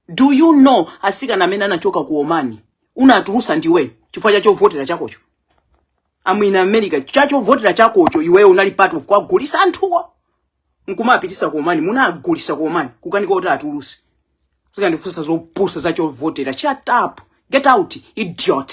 Do you know asikana amene anachoka ku Omani unatulusa ndiwe chifukwa cha chovotera chakocho? I'm in America cha chovotera chakocho iweyo unali part of kuwagulisa anthuwo nkumapitisa ku Omani munagulisa ku Omani kukanika kuti atuluse nkukandifunsa zopusa za chovotera shut up get out idiot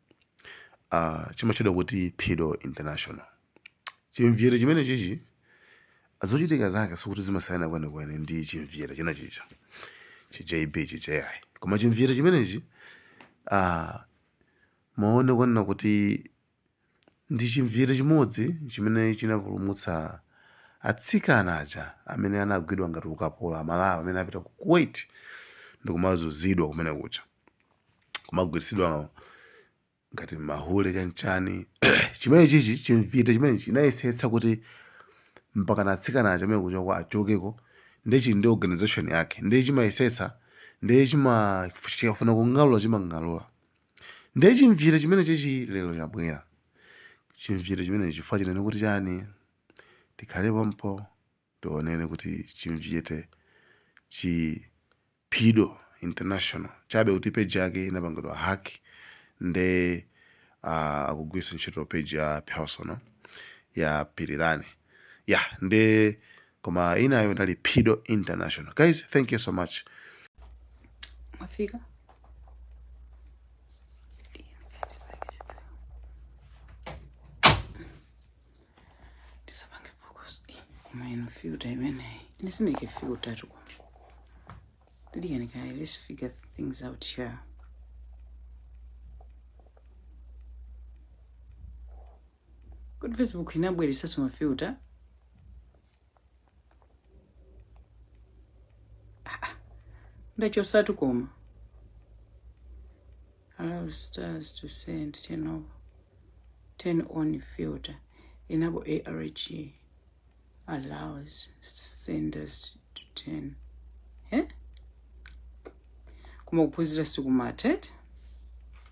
uh, chimatchedwa kuti phido international chimvite chimene chichi zochitika zake sikuti zimasiyana kwenikweni ndi chimvite china chija chi jb chi ji koma chimvite chimenechi uh, maone kwanena kuti ndi chimvite chimodzi chimene chinapulumutsa atsikana aja amene anagwidwa ngati ukapolo amalawi amene anapita ku kuwait ndikumazuzidwa kumene kuja kumagwiritsidwa ngati mahule chanchani chimene chichi chimvite chimene chinayesetsa kuti mpaka atsikana aja amene kuja achokeko ndi chili ndi organization yake ndi chimayesetsa ndi chikafuna kung'alula chimang'alula ndi chimvite chimene chichi lero chabwera chimvite chimene chikufuna chinene kuti chani tikhale pompo tinene kuti chimvite chi phido international chabe kuti page yake inapangidwa hack nde uh, akugwiritsa ntchito page ya personal ya pilirani ya yeah, nde koma inayo ndi ali phido international guys thank you so much mwafika tisapange phokoso Eh, koma ino filter imeneyi ine sindike filter tu lidikani kaye let's figure things out here kodi facebook inabweresaso mafilter ndachosatu koma allow stars to send turn off turn on filter enable arg allows senders to turn eh? koma kuphunzira sikumathe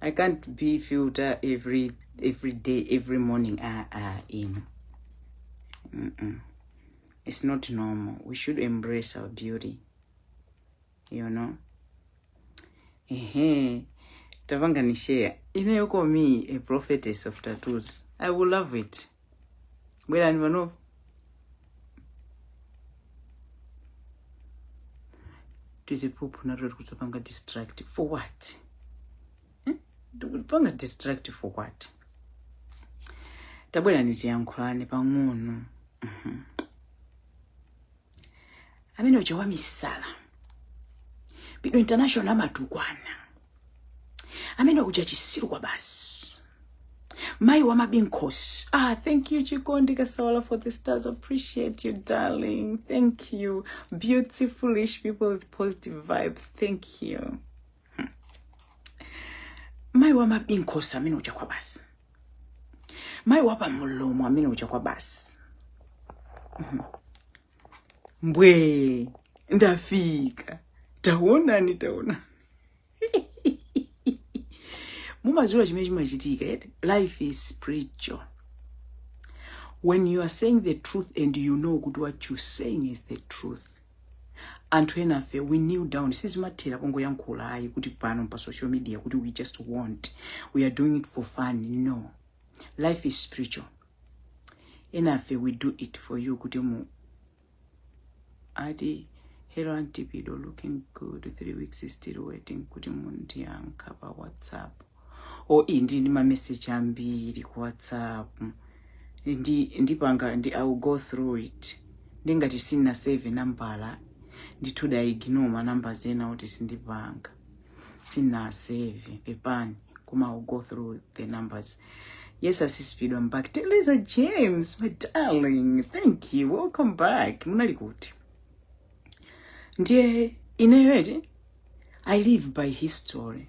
i can't be filter every every day every morning ah ah in mm -mm. it's not normal we should embrace our beauty you know ehe tapanganishare ineyo komi a prophetess of tattoos i will love it bwerani panopa tiziphuphu nato tikudzapanga distract for what Hmm? tikupanga distract for what tabwerani tiyankhulane pang'ono Mhm. amene uja wamisala pido international amatukwana amene uja chisiru kwa basi mayi wa ma bints ah thank you chikondi kasawala for the stars appreciate you darling thank you beautiful rich people with positive vibes thank you mayi wa mabinkhosi amene uja kwa basi mayi wa pamlomo amene uja kwa basi Mhm. mbwe ndafika taonani taonani mumaziwa chimene chimachitika eti life is spiritual when you are saying the truth and you know kuti what you saying is the truth anthu enafe we kneel down sizimathera pongoyankhula ayi kuti pano pa social media kuti we just want we are doing it for fun no life is spiritual enafe we do it for you kuti mu ati hello auntie pido looking good three weeks still waiting kuti mundiyankhe pa whatsapp o oh, ndili ndi mameseji ambiri ku whatsapp ndi ndipanga ndi i will go through it ndingati sina save nambala ndithu da ignore ma numbers ena oti sindipanga sina save pepani koma i will go through the numbers yes asisi pido am back teleza james my darling thank you welcome back munali kuti ndiye ineyo eti i live by history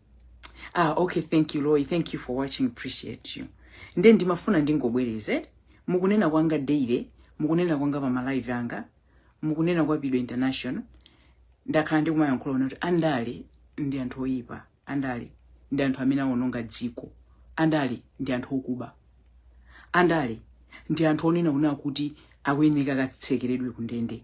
ah okay thank you loy thank you for watching appreciate you nde ndimafuna ndingobwereze mukunena kwanga daily mukunena kwanga pa malive anga mukunena kwa pido international ndakhala ndikumayankhula kuti andale ndi anthu oyipa andale ndi anthu amene awononga dziko andale ndi anthu okuba andale ndi anthu onama ona kuti akuyenera katsekeredwe kundende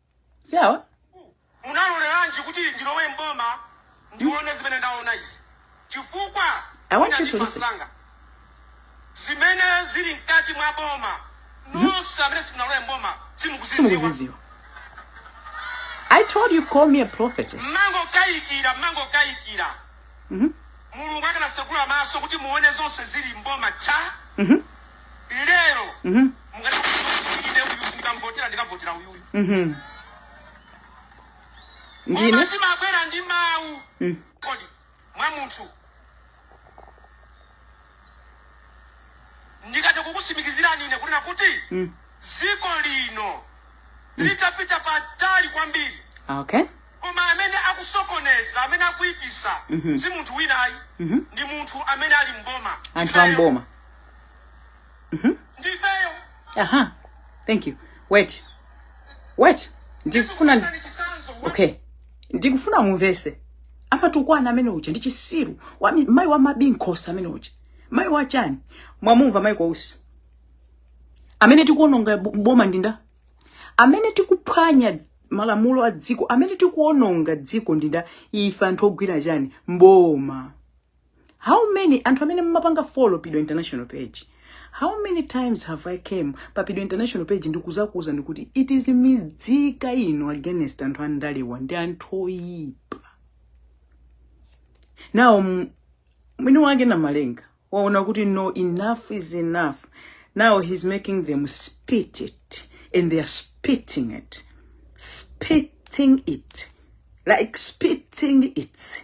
si awa unaloleranji kuti ndilowe mboma ndione zimene ndaona izi chifukwa I want you to ndinandifa listen. msanga. zimene zili mkati mwa boma inu nonse amene simunalowe mboma simukuziziwa simukuziziwa i told you call me a prophetess mmangokayikira mmangokayikira Mhm. mulungu akanasegula maso kuti muone zonse zili mboma cha Mhm. lero Mhm. mukati ine uyu singamvotera ndikavotera uyuyu Mhm. ndine Koma timabwera ndi mawu Mm. koti mwa munthu ndikati kukusimikizirani ine kunena kuti Mm. dziko lino litapita patali kwambiri okay koma amene akusokoneza amene akuyipisa Mhm. si munthu winayi Mhm. ndi munthu amene ali mboma anthu amboma Mhm. ndifeyo aha thank you wait wait ndikufuna ndi- chisanzo okay ndikufuna mumvese amatukwana amene uja ndi chisiru wa mi- mayi wa mabinkhosa amene uja mayi wa chani mwamumva mayi kwa usi amene tikuononga bo- boma ndi ndani amene tikuphwanya malamulo a dziko amene tikuononga dziko ndi ndani ife anthu ogwira chani mboma how many anthu amene mmapanga follow pido international page how many times have i came pa pido international page ndikuzakuuza ndikuti it is midzika ino against anthu andalewa ndi anthu oyipa now m- mwini wake na malenga waona kuti no enough is enough now he's making them spit it and they are spitting it spitting it like spitting it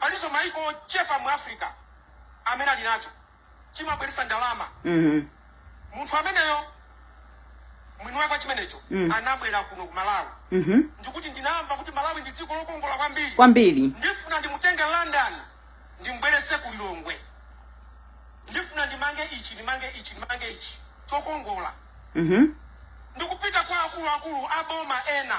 Palinso mayiko ochepa mu Africa amene ali nacho. Chimabweretsa ndalama. Munthu ameneyo, mwini wake wa chimenecho, anabwera kuno ku Malawi ndi kuti, Ndinamva kuti Malawi ndi dziko lokongola kwambiri. Ndifuna ndimutenge London ndimbweretse ku Lilongwe. Ndifuna ndimange ichi, ndimange ichi, ndimange ichi chokongola. Ndikupita kwa akuluakulu a boma ena.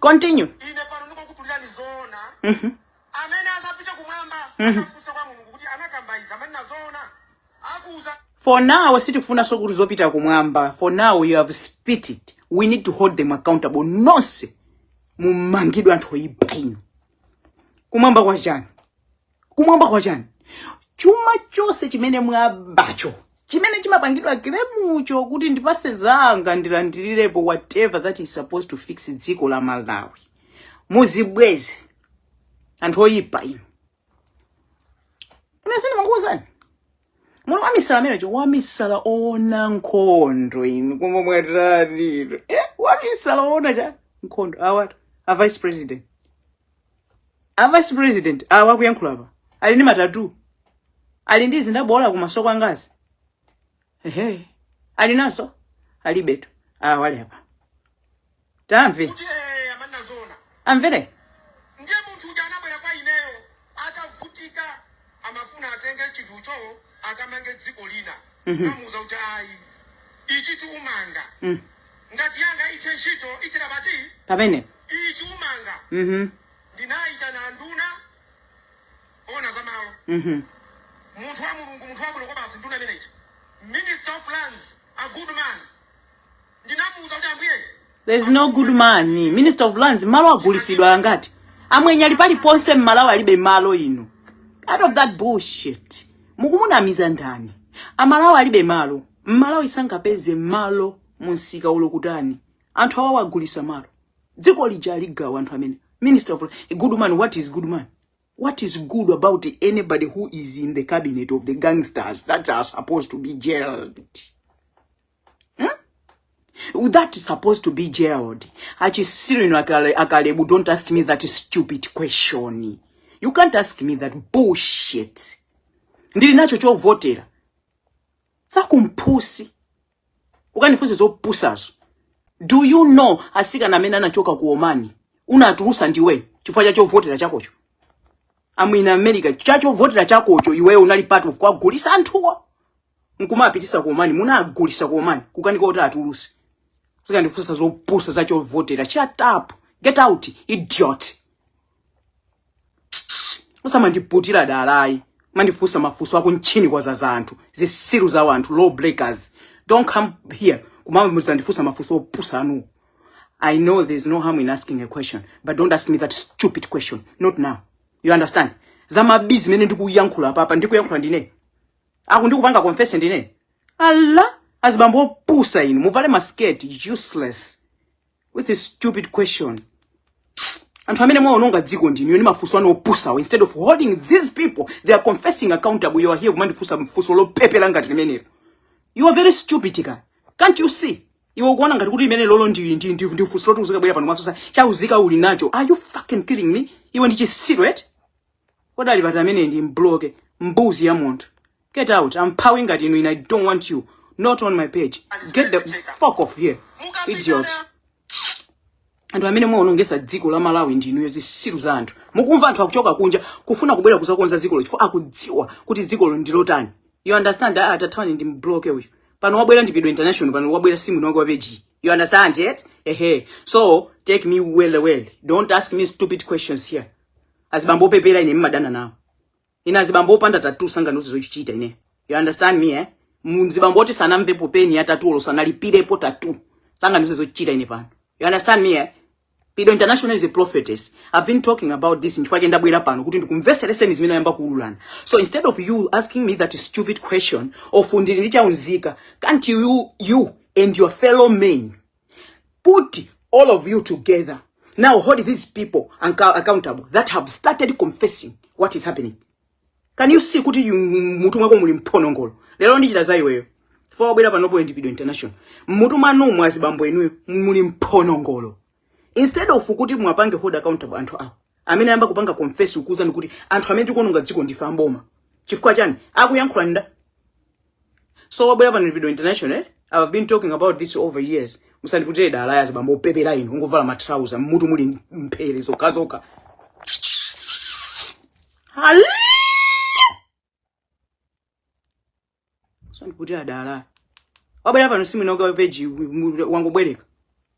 Continue. Mm-hmm. Mm-hmm. For now, sitikufunanso kuti zopita kumwamba. For now, you have spit it. We need to hold them accountable. Nonse. Mumangidwe anthu oyipa inu. Kumwamba kwa chani? kumwamba kwa chani chuma chonse chimene mwabacho chimene chimapangidwa kilemucho kuti ndipatse anzanga ndilandirirepo whatever that is supposed to fix dziko la malawi muzibweze anthu oyipa inu ine sindimakuuzani munthu wamisala ameneyo wamisala oona nkhondo inu koma mwatani inu eh, wamisala oona cha nkhondo awatu a vice president a vice president awa akuyankhula apa ali ndi matatu ali ndi zindaboola kumasoko ngati ehe ali nazo alibetu awa ali apa tamve kuti eh, amanena zoona amvere ndiye munthu uja anabwera kwa ineyo atavutika amafuna atenge chinthucho akamange dziko lina ndinamuuza kuti ayi ichi timanga ngati yanga ithe ntchito ithere pati pamene ichi umanga mhm ndinayitana nduna yoona za malo mhm munthu wa mulungu munthu wabwino kwabasi nduna imeneyi minister of lands a good man ndinamuuza kuti ambuye there is no good man minister of lands malo agulitsidwa angati amwenye ali paliponse mmalawi alibe malo inu out of that bullshit mukumunamiza ndani amalawi alibe malo mmalawi sangapeze malo mumsika ulokutani anthu awa agulitsa malo dziko lija agawa anthu amene minister of a good man what is good man what is good about anybody who is in the cabinet of the gangsters that are supposed to be jailed Hmm? That is supposed to be jailed. Achisirino akalebu, don't ask me that stupid question. You can't ask me that bullshit. Ndili nacho chovotera. Chakupusa. Usandifunse zopusazo. Do you know atsikana amene anachoka ku Oman? Unatulutsa ndiwe chifukwa cha chovotera chakocho. I'm in America. Cha chovotera chakocho iweyo unali part of kuwagulitsa anthuwo. nkumapitisa komani munagulisa komani kukanika kuti atuluse uzikandifunsa zopusa za chovotera shut up get out idiot usamandiputire dala ayi umandifunsa mafunso ako ntchini kwa za zanthu zitsiru za wanthu law breakers don't come here kumazandifunsa mafunso opusa anuwo I know there's no harm in asking a question, but don't ask me that stupid question. Not now. You understand? Za ma busy mmene ndikuyankhula apapa ndikuyankhula ndine. Aku ndikupanga confess ndine. Ala azibambo opusa inu muvale masketi useless with this stupid question. anthu amene mwaononga dziko ndinuyo ndi mafunso anu opusawo instead of holding these people they are confessing accountable you are here kumandifunsa funso lopepera ngati limenelo you are very stupid ka can't you see iwe ukuona ngati kuti limenelolo ndi ndi ndi ndi funso loti uzikabwera pano mwafunsa chaunzika uli nacho are you fucking kidding me iwe ndi chitsiru eti kodi ali pati amene ndimbloke mbuzi ya munthu get out amphawi ngati inu ine i don't want you not on my page get the fuck off here idiot anthu amene mwaonongetsa dziko la malawi ndi inuyo zitsiru za anthu mukumva anthu akuchoka kunja kufuna kubwera kuzakonza dzikolo chifukwa akudziwa kuti dzikolo ndi lotani you understand ah, atathawa ndimbloke uyu pano wabwera ndi pido international pano wabwera simu nonge wapeji you understand it ehe so take me well well don't ask me stupid questions here azibambo opepera ine mmadana nawo ine azibambo opanda thewera sangandiuze zochichita ine you understand me eh mzibambo oti sanamvepo peni ya tatu olo sanalipirepo tatu sangandiuze zochichita ine pano you understand me eh Pido International is a prophetess. I've been talking about this nchifukwa chake ndabwera pano kuti ndikumvetsereseni zimene ayamba kuululana. So instead of you asking me that stupid question of uli ndi chaunzika, can't you you and your fellow men put all of you together now hold these people anca- accountable that have started confessing what is happening can you see kuti yu- mutu mwako muli mbonongolo lero ndichita za iweyo fa wabwera panopo ndi Pido International mmutu mwanu mwa azibambo inuyo muli mbonongolo instead of kuti muwapange hold accountable anthu awo amene ayamba kupanga confess akukuwuzani kuti anthu amene tikuononga dziko ndife a m'boma chifukwa chani akuyankhula nda so wabwera pano ndi Pido International eh? i've been talking about this over years musandiputire dala ayi azibambo opepera inu mungovala matrauza mmutu muli mphere zokhazokha Hallelujah. musandiputire dala wabwera pano simu inonga peji wangobwereka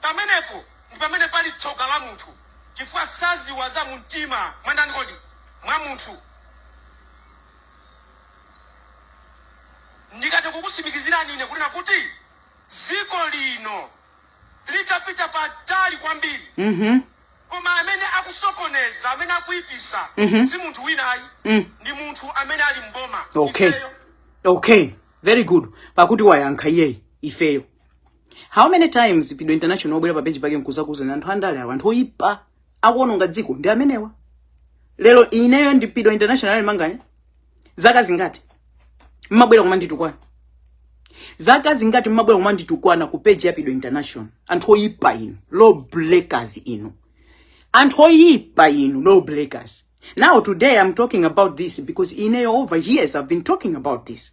Pamenepo ndi pamene pali tsoka la munthu, chifukwa sadziwa za mumtima mwa ndani kodi? mwa munthu. Ndingathe kukutsimikizirani ine kunena kuti dziko lino litapita patali kwambiri Mhm. koma amene akusokoneza amene akuipisa Mhm. si munthu wina ayi Mm. ndi munthu amene ali m'boma Okay. Ifeyo. Okay. Very good. Pakuti wayankha iyeyi ifeyo. How many times Pido International obwera pa page pake nkuzakuuzani anthu andale awa anthu oyipa akuononga dziko ndi amenewa. Lero ineyo ndi Pido International Manganya zaka zingati mmabwera kumanditukwana zaka zingati mmabwera kumanditukwana ku page ya Pido International anthu oyipa inu law breakers inu anthu oyipa inu law breakers now today I'm talking about this because ineyo over years I've been talking about this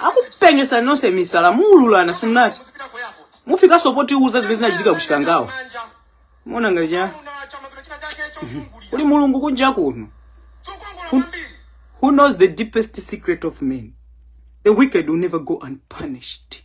akupengesani nonse misala muululana simunati mufikanso potiwuza zimene zinachitika ku Chikangawa mona ngati cha kuli mulungu kunja kuno who knows the deepest secret of men the wicked will never go unpunished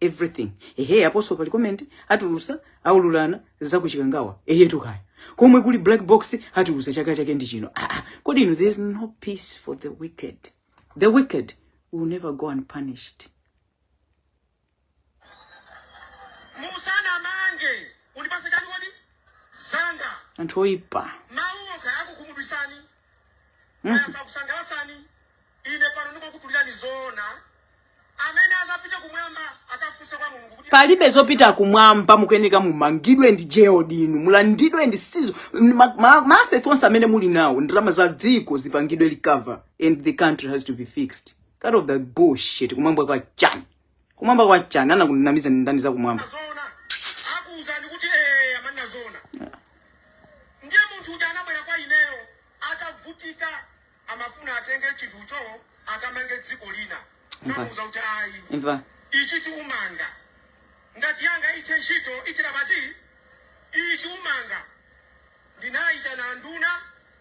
everything ehe apostle pali comment atulusa aululana za ku Chikangawa ehe tukaya komwe kuli black box atulusa chaka chake ndi chino ah, ah. kodi inu there is no peace for the wicked the wicked will never go unpunished musanamange undipase chani kodi zanga anthu oyipa kaya zakusangalasani ine pano ndikukhutulirani zoona amene azapite kumwamba akafunse kwa mulungu kuti palibe zopita kumwamba mukuyeneka mumangidwe ndi jail inu mulandidwe ndi sizo ma- ma- ma assets onse amene muli nawo ndalama za dziko zipangidwe recover and the country has to be fixed cut off the bullshit kumwamba kwa chani Kumwamba kwa chani anakunamiza ndani za kumwamba? Zona. Akuuzani kuti eh amanena zoona. Ndiye munthu uja anabwera kwa ineyo atavutika amafuna atenge chinthucho akamange dziko lina. Mva. Namuuza kuti ayi. Imva. Ichi tiumanga. Ndati yanga ithe ntchito ichira pati ichi umanga. Ndinaitana nduna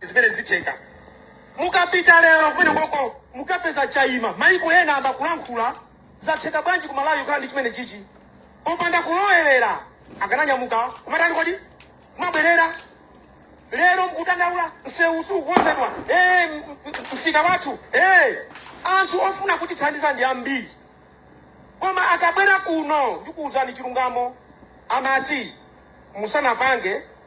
zimene zitheka mukapita lero kumenekoko mukapeza chaima maiko ena akumalankhula zatheka bwanji ku Malawi kukhala ndi chimenechichi popanda kulowerera akananyamuka kumatani kodi kumabwerera lero mkudandaula msewu sukukonzedwa Eh, m- m- msika wathu Eh, anthu ofuna kutithandiza ndi ambiri koma akabwera kuno ndikuwuzani chilungamo amati musanapange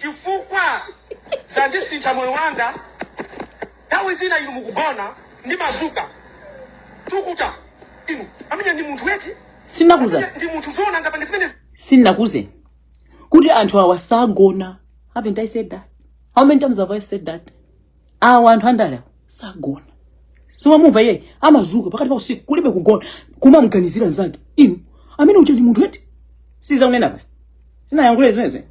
chifukwa zandisintha moyo wanga nthawi zina inu mukugona ndimadzuka nkuti inu amene ndi munthu eti sinakuuze ndi munthu zoona angapange zimenezi sinakuuze kuti anthu awa sagona haven't i said that how many times have i said that awa anthu andalewa sagona simwamumva iyeyu amadzuka pakati pa usiku kulibe kugona kumamganizira nzake inu amene uja ndi munthu eti si zakunena basi sinayankhule zimenezi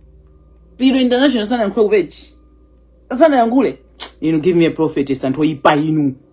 pino international sanayankhule kupechi sanayankhule inu give me a prophetess anthu oyipa inu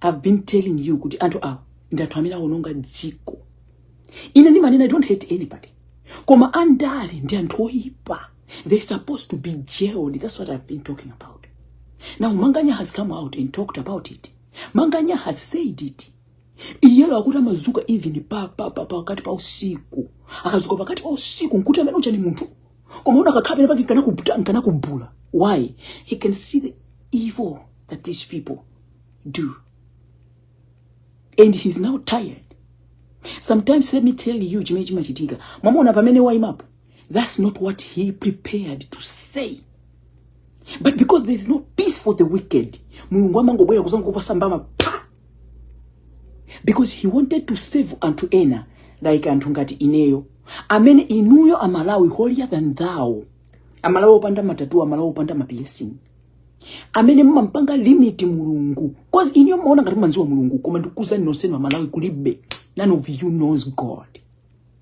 i've been telling you kuti anthu awa ndi anthu amene awononga dziko ine ndimanena i don't hate anybody koma andale ndi anthu oyipa they're supposed to be jailed that's what i've been talking about now manganya has come out and talked about it manganya has said it iyeyo akuti amadzuka even pa pa pa pakati pa usiku akadzuka pakati pa usiku nkuti amene uja ndi munthu koma uno akakhala penapake nkana kubula nkana kubula why he can see the evil that these people do and he's now tired sometimes let me tell you chimene chimachitika mwamona pamene waimapo That's not what he prepared to say. But because there's no peace for the wicked, Mulungu amangobwera kudzangokupatsa mbama phaa. Because he wanted to save anthu ena like anthu ngati ineyo amene inuyo amalawi holier than thou amalawi opanda matatu amalawi opanda ma piercing amene mumampanga limit mulungu cause inuyo mumaona ngati mumamdziwa mulungu koma ndikuuzani nonsenu amalawi kulibe none of you knows god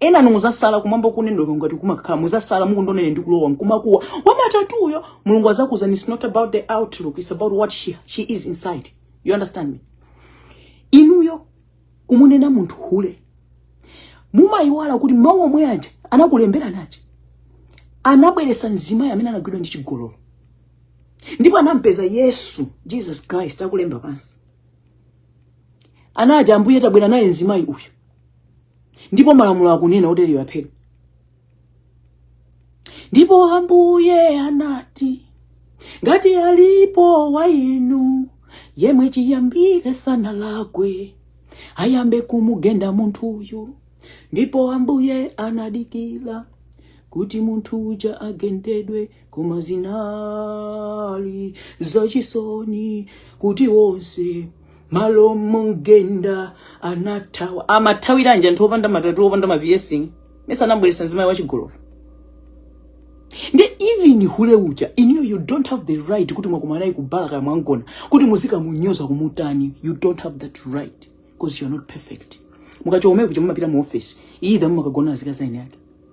enanu mudzatsala kumwamba kujako ngati kumakhala mudzatsala mukungonena ndikulowa mkumakuwa wamatatuyo mulungu adzakuuzani it's not about the outlook it's about what she, she is inside you understand me inuyo pomunena munthu hule mumayiwala kuti mawu omwe aja anakulemberani aja anabweretsa mzimayi amene anagwidwa ndi chigololo ndipo anampeza yesu jesus christ akulemba pansi anati ambuye tabwera naye mzimayi uyu ndipo malamulo akunena otereyo aphedwe ndipo ambuye anati ngati alipo wa inu yemwe chiyambire sanalakwe ayambe kumugenda munthuyu ndipo ambuye anadikira kuti munthu uja agendedwe koma zinali zachisoni kuti onse malo momugenda anathawa amathawiranji anthu opanda matatu opanda ma piercing mesa anambweretsa mzimayi wachigololo nde even hule uja inuyo you don't have the right kuti mwakumana naye kubala kaya mwamgona kuti muzikamunyoza kumutani you don't have that right because you're not perfect mukachoka omwe kuja mumapita mu office either mumakagona azikazi a eni ake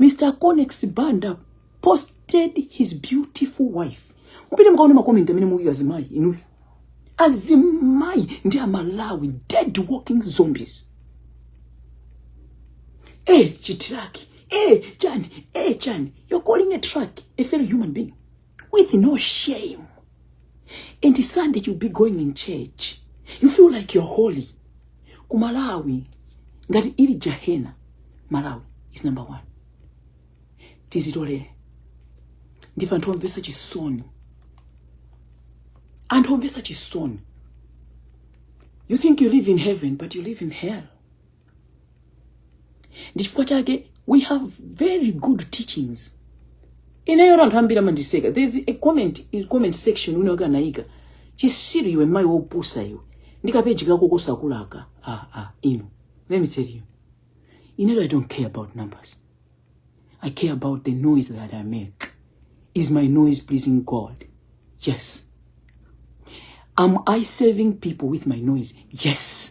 Mr. Conex Banda posted his beautiful wife. Mupite mukaone makomenti amene mwaika azimayi inuyo. Azimayi ndi aMalawi dead walking zombies. Eh, chitiraki. Eh, chani. Eh, chani. You're calling a truck a fellow human being. with no shame and sunday you'll be going in church you feel like you're holy ku malawi ngati ili jahena malawi is number one tizitolere ndife anthu omvesa chisoni anthu omvesa chisoni you think you live in heaven but you live in hell ndi chifukwa chake we have very good teachings ineyo anthu ambiri amandiseka there's a comment in comment section wina wake anayika chisiru iwe mayi wopusa iwe ndi kapeji kako kosakulaka ah, ah, inu let me tell you ineyo i don't care about numbers i care about the noise that i make is my noise pleasing god yes am i serving people with my noise yes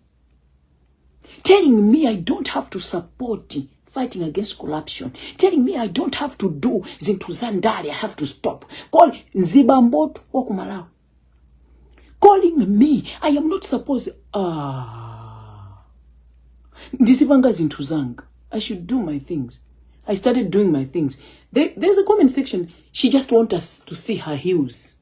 telling me I don't have to support fighting against corruption telling me I don't have to do zinthu za ndale I have to stop Call nzibamboto wa ku Malawi calling me I am not supposed ah ndizipanga zinthu zanga I should do my things I started doing my things there, there's a comment section she just want us to see her heels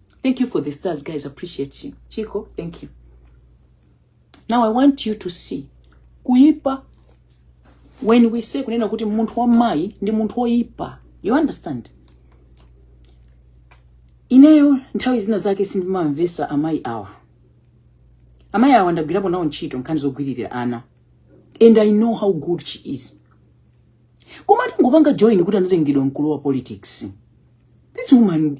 Thank you for the stars, guys. Appreciate you. Chico, thank you. Now I want you to see kuipa when we say kunena kuti munthu wa mai ndi munthu woipa. You understand? Ineyo nthawi zina zake sindimamvesa amai awa. Amai awa ndagwirapo nawo ntchito nkhani zogwiririra ana. And I know how good she is. Koma atangopanga join kuti anatengedwa mkulu wa politics. This woman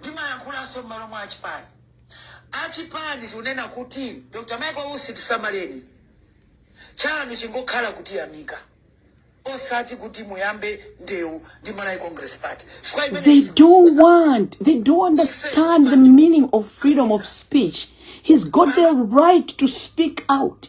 Ndikuyankhulanso m'malo mwa achipani achipani tikunena kuti dr michael usi tisamaleni chanu chingokhala kutiyamika osati kuti muyambe ndewu ndi malawi congress party chifukwa imeneyi They don't understand the meaning of freedom of speech. He's got the right to speak out.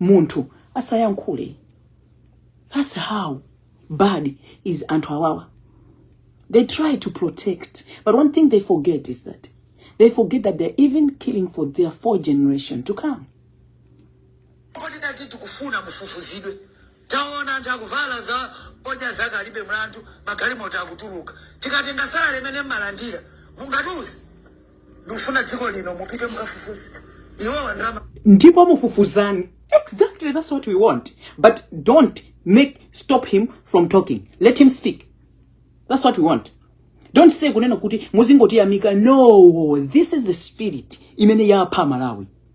munthu asayankhule that's how bad is anthu awawa they try to protect but one thing they forget is that they forget that they're even killing for their fourth generation to come poti titati tikufuna mufufuzidwe taona anthu akuvala za Moja zake alibe mlandu magalimoto akutuluka tikatenga salary imene mumalandira mungatiuze ndikufuna dziko lino mupite mukafufuze iwowa ndalama ndipo mufufuzeni exactly that's what we want but don't make stop him from talking let him speak that's what we want don't say kunena kuti muzingotiyamika no this is the spirit imene yapha aMalawi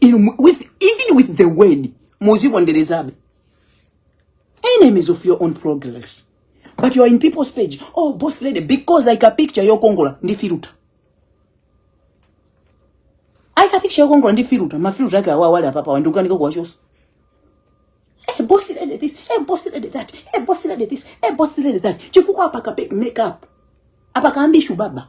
in with even with the word muziponderezabe enemies of your own progress but you are in people's page oh boss lady because like a picture yokongola ndi filuta aika picture yokongola ndi filuta mafiluta ake awa wale apapa wandikukanika kuwachosa Hey, eh, boss lady this. Hey, eh, boss lady that. Hey, eh, boss lady this. Hey, boss lady that. Chifukwa apaka make up. Apaka ambishu baba.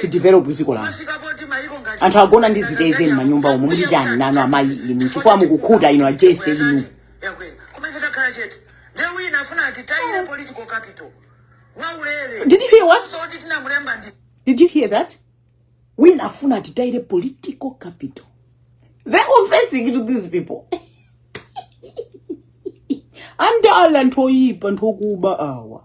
tidevelop dziko lanu anthu agona ndi ziteze m'manyumba umu muti chani nanu amayi inu chifukwa mukukhuta inu ajese inu Did you hear what? Did you hear that? Wina afuna titayire political capital. They're confessing to these people. Andale anthu oipa anthu okuba awa.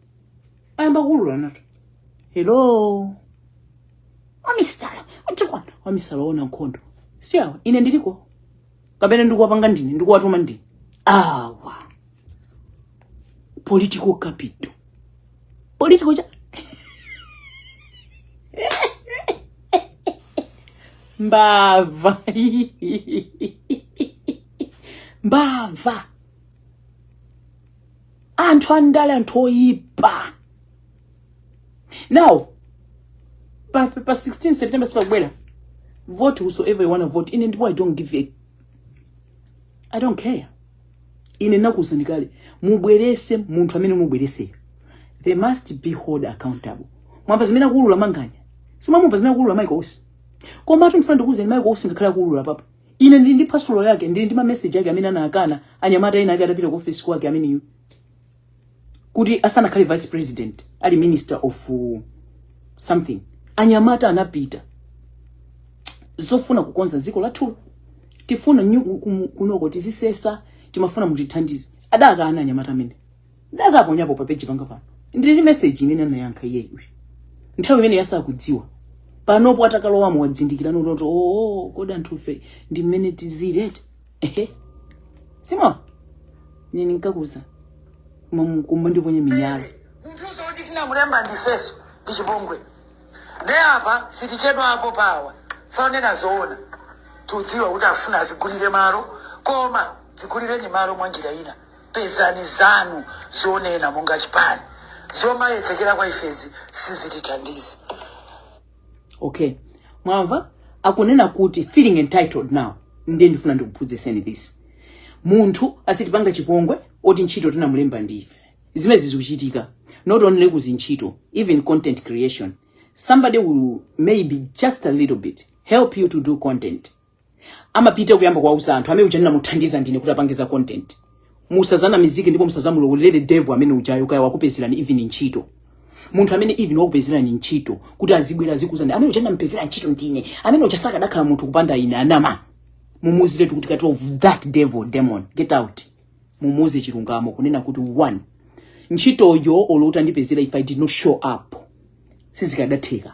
ayamba kuulula nawo hello wamisala utikwana amisala aona nkhondo si awa ine ndiliko kapena ndikuwapanga ndine ndikuwatuma ndine awa political capital political chani mbava mbava anthu andale anthu oyipa now pa 16 september sipakubwera vote whosoever you wanna vote ine ndipo i don't give a i don't care ine ndakuuzani kale mubwerese munthu amene mubwereseyo they must be hold accountable mwamva zimene akuulula manganya simunamve zimene akuulula michael usi komatu ndifuna ndikuuzeni michael usi ngakhale akuulula papa ine ndili ndi phasulo yake ndili ndi mameseji ake amene anakana anyamata ena ake atapita ku office kwake ameneyu kuti asanakhale vice president ali minister of uh, something anyamata anapita zofuna kukonza dziko lathulo tifuna kunoko tizisesa timafuna mutithandize adakana anyamata amene ndizaponyapo pa page panga pano ndili ndi message imene anayankha iyeyo nthawi imene yasakudziwa panopo atakalowamo wazindikira nototo oo kodi anthufe ndi mmene tizili eti ehe simon nini nkakuza kumba ndiponye minyala munthuso oti tinamulemba ndifeso ndi chipongwe ne apa sitichedwapo apa wanena zoona tudziwa kuti afuna azigulire malo koma zigulireni malo mwa njira ina pezani zanu zonena monga chipani zomayedzekera kwa ifezi sizitithandizi okay mwamva akunena kuti feeling entitled now ndiye ndifuna ndikuphunzitseni this munthu asitipanga chipongwe oti ntchito tinamulemba ndi ife zimezi zikuchitika not only kuzintchito even content creation somebody will maybe just a little bit help you to do content amapita kuyamba kuwauza anthu amene uja ndinamuthandiza ndine kuti apange za content musazanamizike ndipo musazamulowelere devil amene ujayo kaya wakupezerani even ntchito munthu amene even wakupezerani ntchito kuti azibwera azikuuzani amene uja ndamupezera ntchito ndine amene uja sakadakhala munthu kupanda ine anama mumuuzire kuti kati of that devil demon get out mumuuze chilungamo kunena kuti one ntchitoyo olo utandipezera if i did not show up sizikadatheka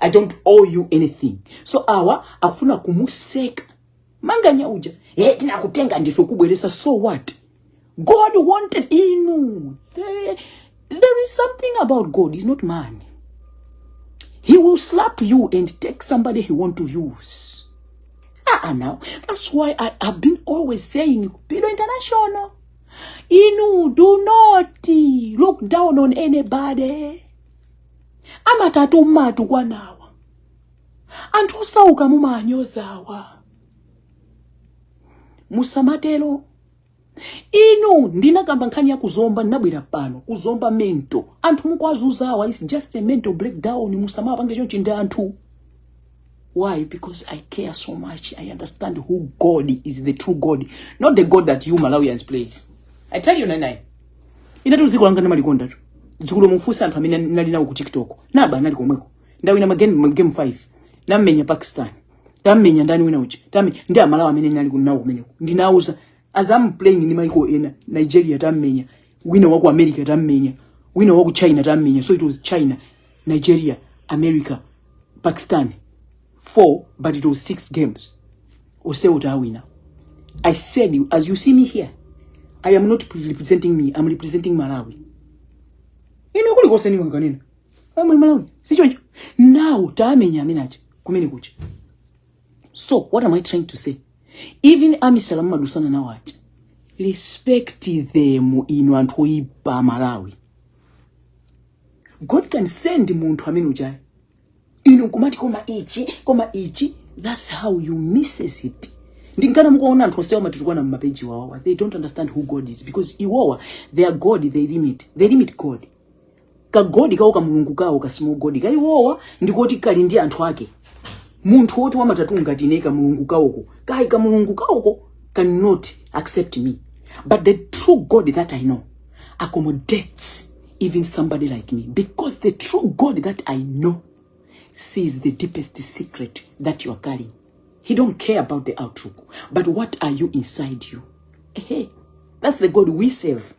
i don't owe you anything so awa akufuna kumuseka manganya uja e tinakutenga ndife kubweresa so what god wanted inu there, there is something about god is not man he will slap you and take somebody he want to use ah, ah now that's why i have been always saying pilo international inu do not look down on anybody amatatu mumatukwanawa anthu osauka mumaanyozawa musamatero inu ndinakamba nkhani ya kuzomba ndinabwera pano kuzomba mental anthu mukwazuzawa is just a mental breakdown musamawapange chonchi ndi anthu Why? Because I care so much. I understand who God is, the true God, not the God that you Malawians plays. I tell you, Nanai. Ina tu ziko langa na malikonda tu. Zikulo mfusa antu hamina nali na uku TikTok. Naba nali kumweko. Ndawi na magame, game five. Na mmenya Pakistan. Tammenya ndani wina uchi. Tammenya. Ndi amalawa mene nali kunawo kumeneko. Ndinauza. as I'm playing ni maiko ena Nigeria tammenya wina wa ku America tammenya wina wa ku China tammenya so it was China Nigeria America Pakistan four but it was six games osewo tawina I said you as you see me here I am not representing me I'm representing Malawi ine kuli kose ni wanganena amwe Malawi sichoncho now tamenya amenaje kumene kucha so what am i trying to say even amisala mumadutsana nawo aja respect them inu anthu oyipa amalawi god can send munthu amene ujayo inu kumati koma ichi koma ichi that's how you misses it ndinkana mukuona anthu onsewa amatitukwana mumapeji wawawa they don't understand who god is because iwowa their god they limit they limit god ka god kawo ka mulungu kawo ka small god ka iwowa ndikoti kali ndi anthu ake munthu woti wamatatu ngati ine ka mulungu kawoko kai ka mulungu kawoko cannot accept me but the true god that i know accommodates even somebody like me because the true god that i know sees the deepest secret that you are carrying he don't care about the outlook but what are you inside you Ehe. that's the god we serve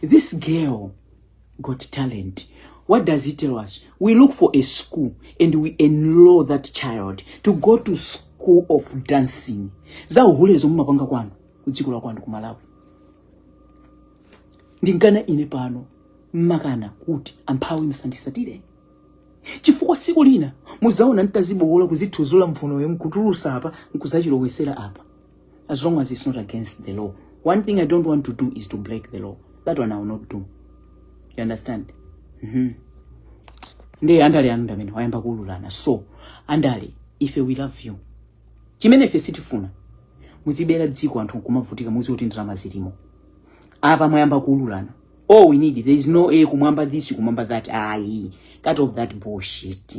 This girl got talent. What does it tell us? We look for a school and we enroll that child to go to school of dancing. Za uhulezo mumapanga kwanu kudziko la kwanu ku Malawi. Ndinkana ine pano mmakana kuti amphawi musanditsatire. Chifukwa siku lina mudzaona nditadzibowola kuzithudzula mphunoyo nkutulutsa apa nkudzachilowetsera apa. as long as it's not against the law one thing i don't want to do is to break the law that one i will not do you understand mm -hmm. ndiye andale anu ndi amene wayamba kuululana so andale ife we love you chimene ife sitifuna muzibera dziko anthu nkumavutika muziti ndalama zilimo apa mwayamba kuululana all we need there is no a eh, kumwamba this kumwamba that ayi cut off that bullshit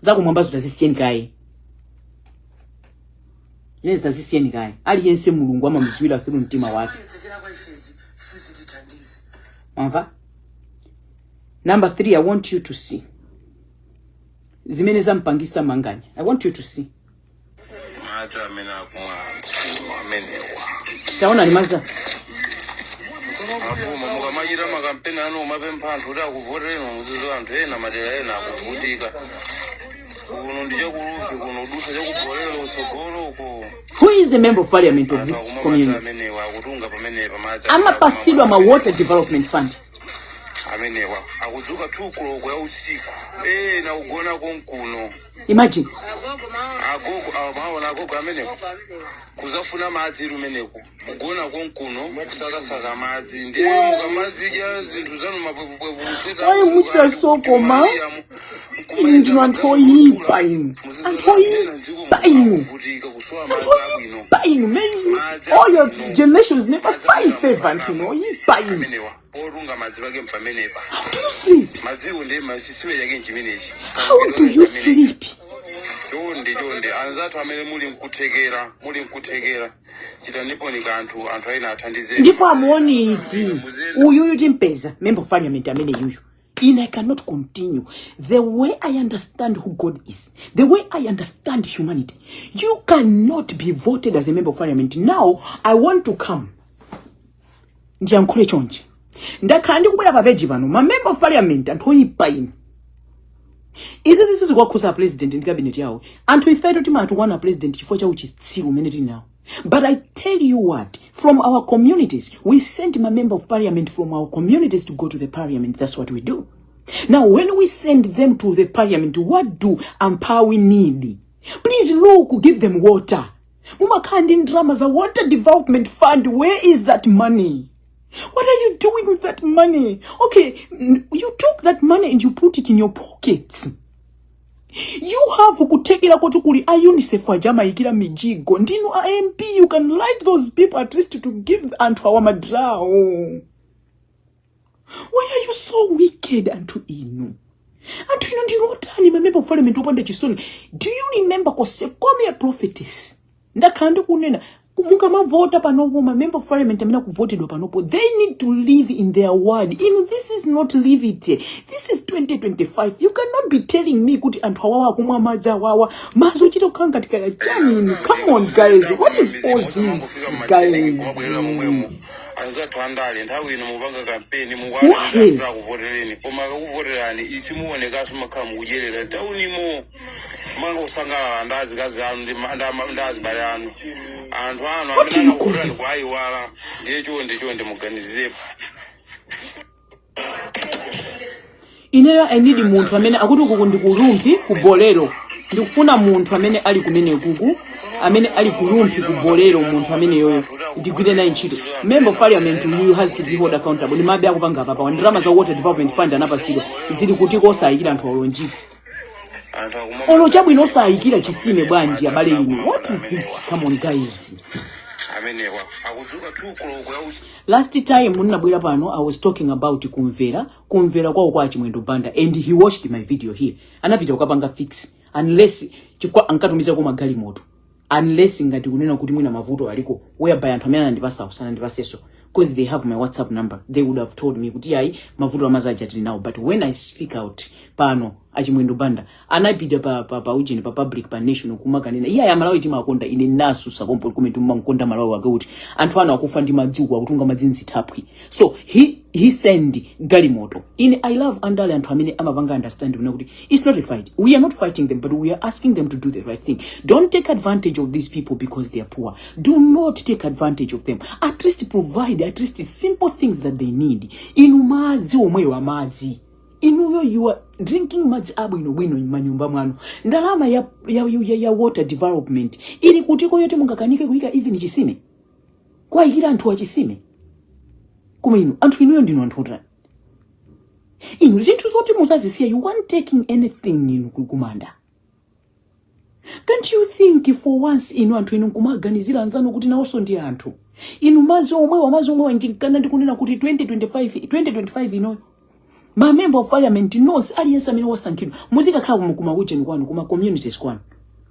zakumwambazo tazisiyeni kaye zimenezi tazisiyeni kaye aliyense mulungu amamudziwira through mtima wake Tekera kwa ife izi sizitithandiza. mwamva number 3 i want you to see zimene zampangisa manganya i want you to see madzi amene akumwa anthu amenewa taonani madzi aboma mukamachita makampeni anu mumapempha anthu kuti akuvotereni mudziwe anthu ena madera ena akuvutika kuno ndi chakulumbe kuno kudutsa chakubolero kutsogolo uko who is the member of parliament of anthu this akumwa madzi community amenewa akutunga pamenepa madzi amapatsidwa ma water development fund amenewa akudzuka 2 koloko ya usiku ena kugona konkuno imagine agogo awa mwaona agogo amenewo kudzafuna madzi kumeneko kugona konkuno kusakasaka madzi ndiye mukumadzidya zinthu zanu mapwevupwevu Why would you so koma? Inu ndinu anthu oyipa inu. Anthu oyipa inu. kuvutika kusowa Anthu madzi abwino oyipa inu. Man, all your generations never find favor anthu inu oyipa inu. amenewa otunga madzi pake mpamenepa madziwo ndi chitsime chake nchimenechi chonde chonde anzathu amene muli nkuthekera muli nkuthekera chitaniponi kanthu anthu awa athandizeni ndipo amuonedi uyuyu timpeza member of parliament ameneyuyu and i cannot continue the way i understand who god is the way i understand humanity you cannot be voted as a member of parliament now i want to come ndiyankhule chonchi ndakhala ndikubwera pa peji pano ma member of parliament anthu oyipa inu izi zisizikuwakhuza apresident ndi cabinet yawo anthu ifeto timatukwana president chifukwa cha uchitsiru umene tili nawo but i tell you what from our communities we send ma member of parliament from our communities to go to the parliament that's what we do now when we send them to the parliament what do amphawi need please look give them water mumakhala ndi ndalama za water development fund where is that money what are you doing with that money okay you took that money and you put it in your pockets you have kuthekera koti kuli a unicef aja amayikira mijigo ndinu a mp you can write those people at least to give anthu awa madrawo why are you so wicked anthu inu anthu inu ndinu otani mamemba parliament opanda chisoni do you remember konse come a prophetess ndakhala ndikunena ku- mukamavota panopo mamemba of parliament amene akuvotedwa panopo they need to live in their ward inu this is not live it this is 2025 you cannot be telling me kuti anthu awawa akumwa madzi awawa madzi ochita kukhala ngati kaya chani inu come on guys what is all this guys anzathu andale nthawi ino mupanga kampeni mukuwauza kuti akuvotereni koma akakuvoterani isimuonekanso makhala mukudyerera taunimo manga kusangalala ndi azikazi anu ndi azibale anu anthu anu amene akuvoterani kuwayiwala ndiye chonde chonde muganizirepo ineyo i need munthu amene akuti ukuku ndi ku Rumphi ku bolero ndikufuna munthu amene ali kumene kuku amene ali ku Rumphi ku bolero munthu ameneyoyo ndigwire naye ntchito member of parliament you has to be held accountable ndi umbava akupanga apa pawa ndalama za water development fund anapasidwa zili kutiko osayikira anthu olo mjigo anthu akumwa olo chabwino osayikira chisime bwanji abale inu what is this come on guys amenewa akudzuka 2 koloko ya usiku last time ndinabwera pano i was talking about ku mvera ku mvera kwawo kwa chimwendo banda and he watched my video here anapita kukapanga fix unless chifukwa ankatumizako magalimoto unless ngati kunena kuti mwina mavuto aliko whereby anthu amene anandipasa kusana ndipaseso because they have my whatsapp number they would have told me kuti ayi mavuto amadzi aja tili nawo but when i speak out pano achimwendo banda anapita pa, pa, pa ujeni pa public pa national kumakanena iye aya malawi timakonda ine nasusa pompo kumene timakonda malawi wake kuti anthu anu akufa ndi madziko akutunga madzi mzithaphwi so he, he send galimoto ine i love andale anthu amene amapanga understand kunena kuti It's not a fight. We are not fighting them, but we are asking them to do the right thing. Don't take advantage of these people because they are poor. Do not take advantage of them. At least provide at least simple things that they need. Inu madzi omwewa madzi. Inuyo you are drinking madzi abwino bwino manyumba mwanu. Ndalama ya, ya, ya, ya water development. Ili kutiko yoti mungakanike kuika even chisime. Kuwaikira anthu awa chisime. Koma inu, anthu inuyo ndinu anthu inu zinthu zoti muzazisiya you aren't taking anything inu ku kumanda can't you think for once inu anthu inu nkumaganizira anzanu kuti nawonso ndi anthu inu madzi omwewa madzi omwewa n'chi- nkana ndikunena kuti 2025 2025 ino ma member of parliament nonse aliyense amene wasankhidwa muzikakhala kuma ujeni kwanu kuma communities kwanu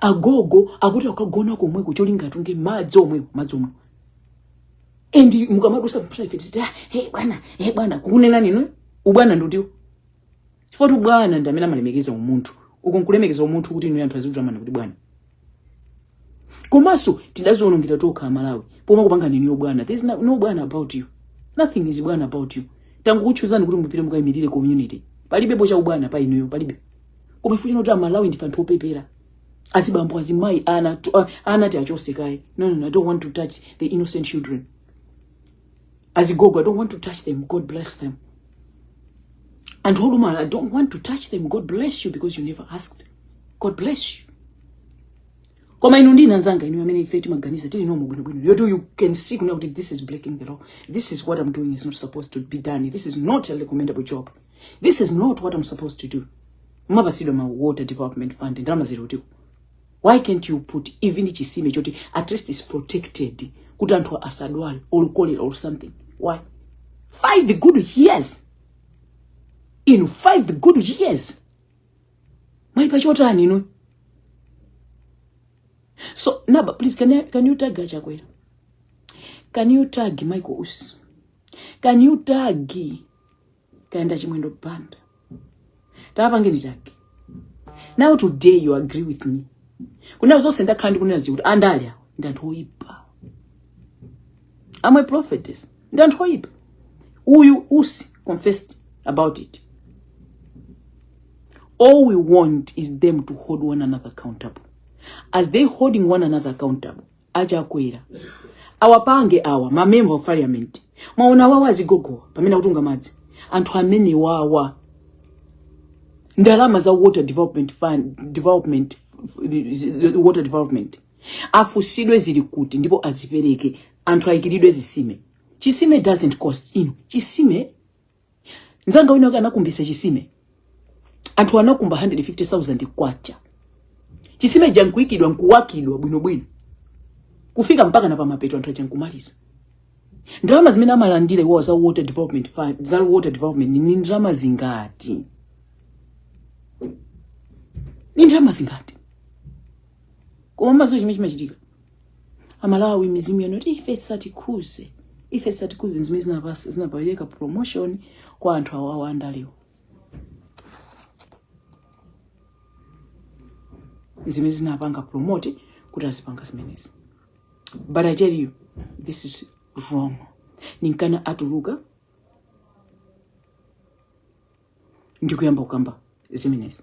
agogo akuti akagona komweko cholinga atunge madzi omwewo madzi omwewo and mukamadusa mpaka ife tiziti ah, hey bwana hey bwana kukunena inuyo ubwana ndi utiwo chifukwa bwana ndi amene amalemekeza umunthu uko nkulemekeza umunthu kuti inu anthu azikutamani kuti bwana komanso tidadzionongera tokha amalawi pomakupangani inuyo bwana there is no, no bwana about you nothing is bwana about you tangokuchuzani kuti mupite mukayimirire community palibepo cha ubwana pa inuyo palibe koma ifeyo chifukwa choti amalawi ndife anthu opepera azibambo azimayi ana tu- ah, ana tiachotse kaye no, no, no, i don't want to touch the innocent children azigogo i don't want to touch them god bless them anthu olumala i don't want to touch them god bless you because you never asked god bless you koma inu ndine anzanga inu amene ife timaganiza tili nomo bwinobwino yotu you can see kunena kuti this is breaking the law this is what i'm doing is not supposed to be done this is not a recommendable job this is not what i'm supposed to do mumapasidwa ma water development fund ndalama ziri kutiko why can't you put even chisime choti at least is protected kuti anthu asadwale or cholera or something why five good years in five good years mwaipa chotani inu so naba please can, I, can you tag achakwera can you tag michael us can you tag kaya ndi a chimwendo banda atapangeni chake now today you agree with me kunena zonse ndakhala ndikunena zija kuti andale awa ndi anthu oyipa ama prophetess ndi anthu oyipa uyu usi confessed about it all we want is them to hold one another accountable as they holding one another accountable achakwera awapange awa ma member of parliament mwaona wawa azigogowa pamene akutunga madzi anthu amene wawa ndalama za water development fund development water development afunsidwe zili kuti ndipo azipereke anthu ayikiridwe zisime chisime doesn't cost inu chisime nzanga wina wake anakumbisa chisime anthu anakumba 150000 kwacha chisime chija nkuikidwa nkuwakidwa bwinobwino kufika mpaka na pamapeto anthu aja nkumaliza ndalama zimene amalandira awawa za water development fund za water development ni ndalama zingati ni ndalama zingati koma mudziwa chimene chimachitika amalawi mizimu yanu kuti ife satikhuze ife satikhuze zimene zinapa- zinapereka promotion kwa anthu awawa andalewo zimene zinapanga promote kuti azipanga zimenezi but i tell you this is wrong ninkana atuluka ndikuyamba kukamba zimenezi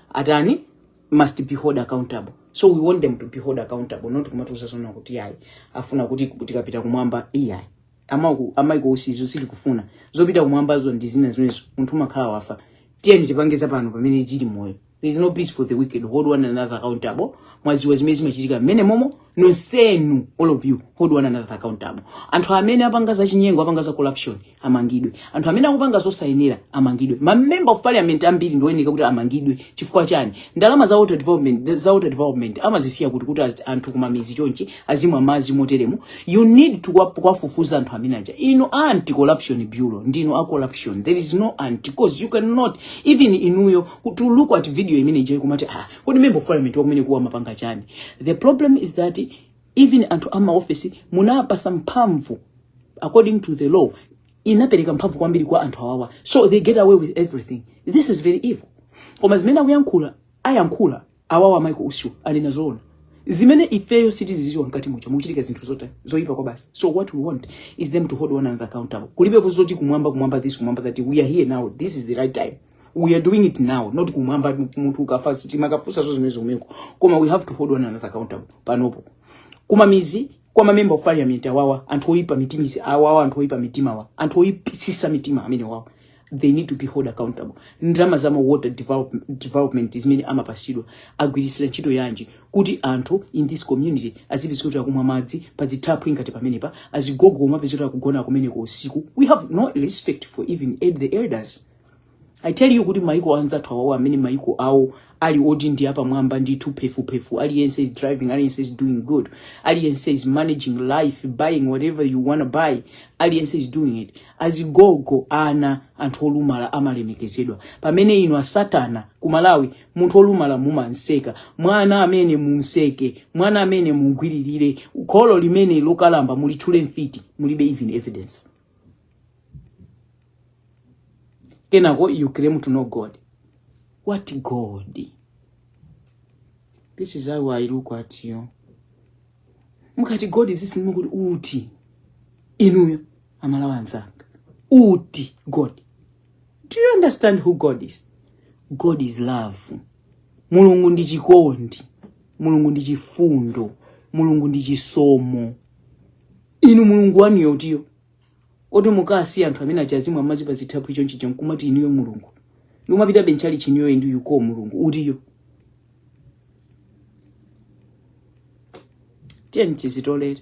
atani must be hold accountable so we want them to be hold accountable not kumatiuza zona kuti ayi afuna kuti tikapita kumwamba iyayi amaku a michael usi izo sitikufuna zopita kumwambazo ndi zina zimenezo munthu umakhala wafa tiyeni tipange za pano pamene tili moyo there is no peace for the wicked hold one another accountable mwaziwa zimene zimachitika mmenemomo nonsenu all of you hold one another accountable anthu amene apanga za chinyengo apanga za corruption amangidwe anthu amene akupanga zosayenera amangidwe ma member of parliament ambiri ndioyeneka kuti amangidwe chifukwa chani ndalama za water development za water development amazisiya kuti kuti az- anthu kumamizi chonchi azimwa madzi moteremu you need to kuwa- kuwafufuza anthu amene aja inu anti corruption bureau ndinu a corruption there is no anti cause you cannot even inuyo to look at video imene ija kumati ah kodi member of parliament wakumeneku amapanga chani the problem is that even anthu ama office munapasa mphamvu according to the law inapereka mphamvu kwambiri kwa anthu awawa so they get away with everything this is very evil koma zimene akuyankhula ayankhula awawa a michael usiwo anena zoona zimene ifeyo sitiziziwa mkati muja mukuchitika zinthu zoti zoipa kwabasi so what we want is them to hold one another accountable kulibeko zoti kumwamba kumwamba this kumwamba that we are here now this is the right time we are doing it now not kumwamba munthu ukafa sitimakafusaso zimenezo meko koma we have to hold one another accountable panopo kumamizi kwa mamemba of parliament awawa anthu oyipa mitima isi awawa anthu oyipa mitima awa anthu oyipisisa mitima amenewawa they need to be hold accountable ndalama za ma water develop, development zimene amapasidwa agwirisira ntchito yanji kuti anthu in this community azipezeka kuti akumwa madzi pazithaphwi ngati pamenepa azigogo omwe apezeka kuti akugona kumeneko usiku we have no respect for even the elders I tell you kuti maiko anzathu awawo amene maiko awo ali oti ndi apamwamba ndithu phefuphefu aliyense is driving aliyense is doing good aliyense is managing life buying whatever you wanna buy aliyense is doing it azigogo ana anthu olumala amalemekezedwa pamene inu asatana ku malawi munthu olumala mumanseka mwana amene mumseke mwana amene mumgwiririre kholo limene lokalamba mulitchule mfiti mulibe even evidence kenako you claim to know god what god this is how i look at you mukati god is this ndimakuti uti inuyo amalawa anzanga uti god do you understand who god is god is love mulungu ndi chikondi mulungu ndi chifundo mulungu ndi chisomo inu mulungu wanuyo utiyo oti mukasiya anthu amene achazimwa madzi pa zithaphwi chonchi nkumati inuyo mulungu nkumapitabe m'tchalichi inuyo ndi yuko mulungu utiyo tiyeni tizitolere